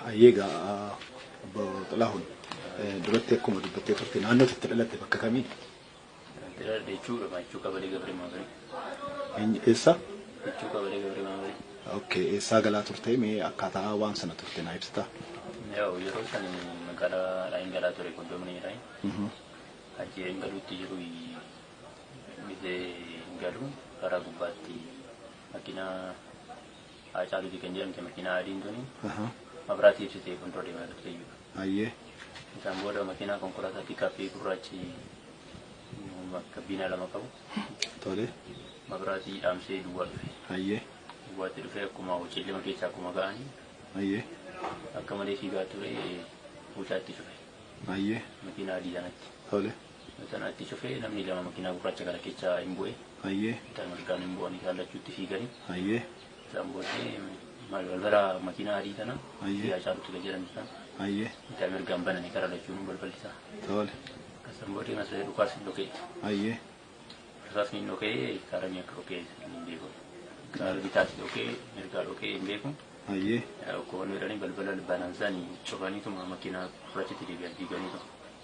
Hayyee egaa obbo Xilaahuun duratti akkuma dubbattee turte naannoo itti dhalatte bakka kamii? Dira dechuu gabaachuu qabalee gabree maabarii. Eenyu- Eessa? Dechuu qabalee gabree maabarii. Okay, eessaa galaa turte mee akkaataa waan sana turte naa ibsitaa? Yoo yeroo san magaalaa Raayin galaa ture kondomni Raayin. Mhm. Achi hin galuutti jiru gisee hin galu karaa gubbaatti makiinaa Haacaaluuti kan jedhamte makiinaa adiin tuni Aha. mabraatii ibsitee fuuldura deemaa turte jechuudha. Ayyee. Isaan booda makiinaa konkolaataa piikaappii gurraachi gabbiinaa lama qabu Tole. mabraatii dhaamsee duwwaa dhufe. Ayyee. Duwwaatti dhufee akkuma hojiillee keessa akkuma ga'anii Ayyee. akka malee fiigaa ture mucaatti cufe Ayyee. makiinaa adii sanatti. Tole. Tana itti cufee namni lama makiinaa gurraacha kana keessa hin bu'e. Hayyee. Bitaa mirgaan hin bu'anii isaan lachuu itti fiiganii. Hayyee. Isaan booddee balbala makiinaa adii tana Hayyee. biyyaa caalu ture jedhan isaan. Hayyee. Bitaa mirgaan bananii gara lachuun balballi isaa. Tole. Isaan booddee masiree dhukaas hin dhokee. Hayyee. Isaas ni dhokee karamii akka dhokee hin beeku. Karaa bitaas dhokee mirgaa dhokee hin beeku. Hayyee. Koon jedhanii balbala banaan isaanii cufaniituma makiinaa gurraachatti deebi'an diiganiitu.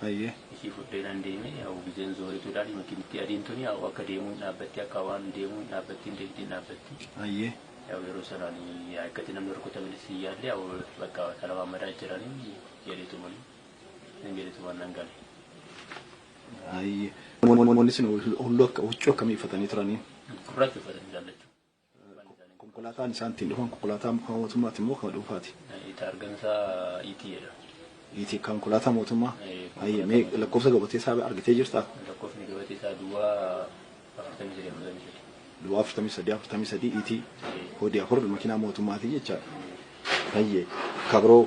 Hayyee. Ishii fudhee nan deeme yaa'u gizeen zoorituu dhaadhi makiinittii adiin tuni yaa'u akka deemuu hin dhaabbatti akka waan deemuu hin dhaabbattiin deemti hin dhaabbatti. Hayyee. Yaa'u yeroo sanaan yaa'ikkatti namni rukutamenis hin yaalle yaa'u bakka talabaamadaa jiranii jedheetumani nan jedheetuman nan gale. Hayyee. Namoonni sun hulluu akka huccuu akkamii uffatanii turanii? Gurraacha uffatanii ilaallachuu. Konkolaataan isaan ittiin dhufan konkolaataa mootummaati immoo kan dhuunfaati? Itti argamsa ET jedha. ET konkolaataa mootummaa? Hayyee mee lakkoofsa gabatee isaa argitee jirtaa? Lakkoofni gabatee isaa duwwaa afurtamii sadii afurtamii sadii. Duwwaa afurtamii sadii afurtamii sadii ET koodii afur makiinaa mootummaati jechaadha. Hayyee kabiroo